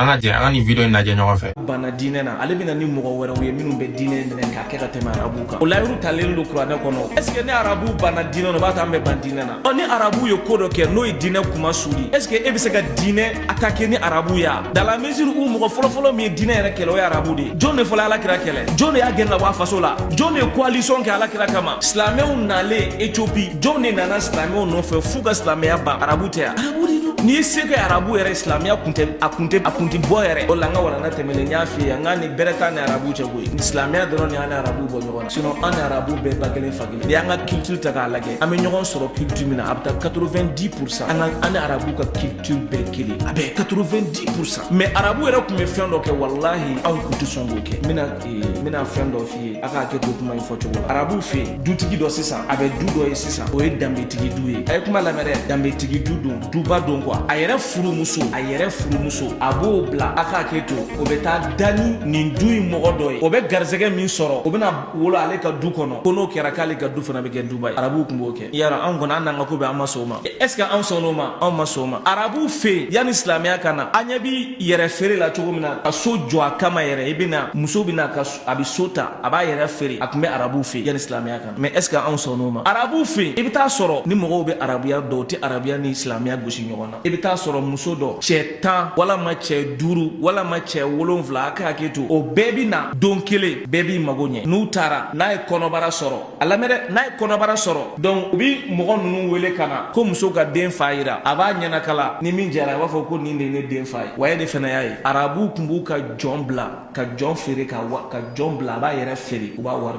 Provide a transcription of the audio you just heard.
an ka jɛ an ka nin video in lajɛ ɲɔgɔn fɛ banna diinɛ na ale bɛna ni mɔgɔ wɛrɛw ye minnu bɛ diinɛ minɛ k'a kɛ ka tɛmɛ arabu kan o layiru talen don kuranɛ kɔnɔ est ce que ni arabu banna diinɛ na o b'a to an bɛ ban diinɛ na ɔ ni arabu ye ko dɔ kɛ n'o ye diinɛ kunmasuli est ce que e bɛ se ka diinɛ attaquer ni arabu ye a dans la mesure où mɔgɔ fɔlɔfɔlɔ min ye diinɛ yɛrɛ kɛlɛ o ye arabu de ye jɔn de fɔlɔ ala kira kɛlɛ jɔn de y'a gɛn ka bɔ a faso la jɔn de ye coalition kɛ ala kira kama silamɛw nalen ethiopie jɔnw de nana silamɛw nɔfɛ f'u ka silamɛya ban arabu tɛ ya arabu de don n'i ye se kɛ arabu yɛrɛ ye silamɛya kun tɛ a kun tɛ a kun tɛ bɔ yɛrɛ o la n ka walanda tɛmɛlen n y'a f'i ye an kɔni bɛrɛ t'an ni arabu cɛ koyi silamɛya dɔrɔn de y'an ni arabu bɔ ɲɔgɔn na sinon an ni arabu bɛɛ ba kelen fa kelen n'i y'an ka culture ta k'a lajɛ an bɛ ɲɔgɔn sɔrɔ culture min na a bɛ taa 90 pour cent an ka an ni arabu ka culture bɛɛ kelen a bɛ 90 pour cent mais arabu yɛrɛ tun bɛ fɛn dɔ kɛ walahi anw tun tɛ sɔn k'o kɛ n bɛna n bɛna fɛn dɔ fɔ a ka hakɛ to kuma in fɔ cogo la arabuw fɛ yen dutigi dɔ sisan a bɛ du dɔ ye sisan o ye danbetigi du ye a ye kuma lamɛn dɛ danbetigi du don duba don quoi a yɛrɛ furumuso a yɛrɛ furumuso a b'o bila a ka hakɛ to o bɛ taa da ni nin du in mɔgɔ dɔ ye o bɛ garisɛgɛ min sɔrɔ o bɛna wolo ale ka du kɔnɔ ko n'o kɛra k'ale ka du fana bɛ kɛ duba ye arabuw tun b'o kɛ yara anw kɔni an n'an ka ko bɛɛ an ma sɔn o ma est ce que anw sɔnn'o ma anw ma sɔn o ma arabuw fɛ yen yanni silamɛya ka na an ɲɛ bɛ yɛrɛ feere la cogo min na ka so jɔ a kama yɛrɛ i bɛna muso bɛna ka so a bɛ so ta a b'a yɛrɛ feere a tun bɛ arabuw fɛ yen yanni silamɛya ka na mais est ce que anw sɔnn'o ma arabuw fɛ yen i bɛ taa sɔrɔ ni mɔgɔw bɛ arabuya dɔn u tɛ arabuya ni silamɛya gosi ɲɔgɔn na i bɛ taa sɔrɔ muso dɔ cɛ tan walima cɛ duuru walima cɛ wolonwula a ka hakɛ to o bɛɛ bɛ na don kelen bɛɛ b'i mago ɲɛ n'u taara n'a ye kɔnɔbara sɔrɔ a lamɛn dɛ n'a ye kɔnɔbara sɔrɔ donc u bɛ mɔgɔ ninnu wele ka na ko muso ka den fa yira a b'a ɲɛnakala ni min diyara a b'a fɔ ko nin de ye ne den fa ye wa e de fana y'a ye arabuw tun b'u ka jɔn bila ka jɔn feere ka ka jɔn bila a b'a yɛrɛ feere u b'a wari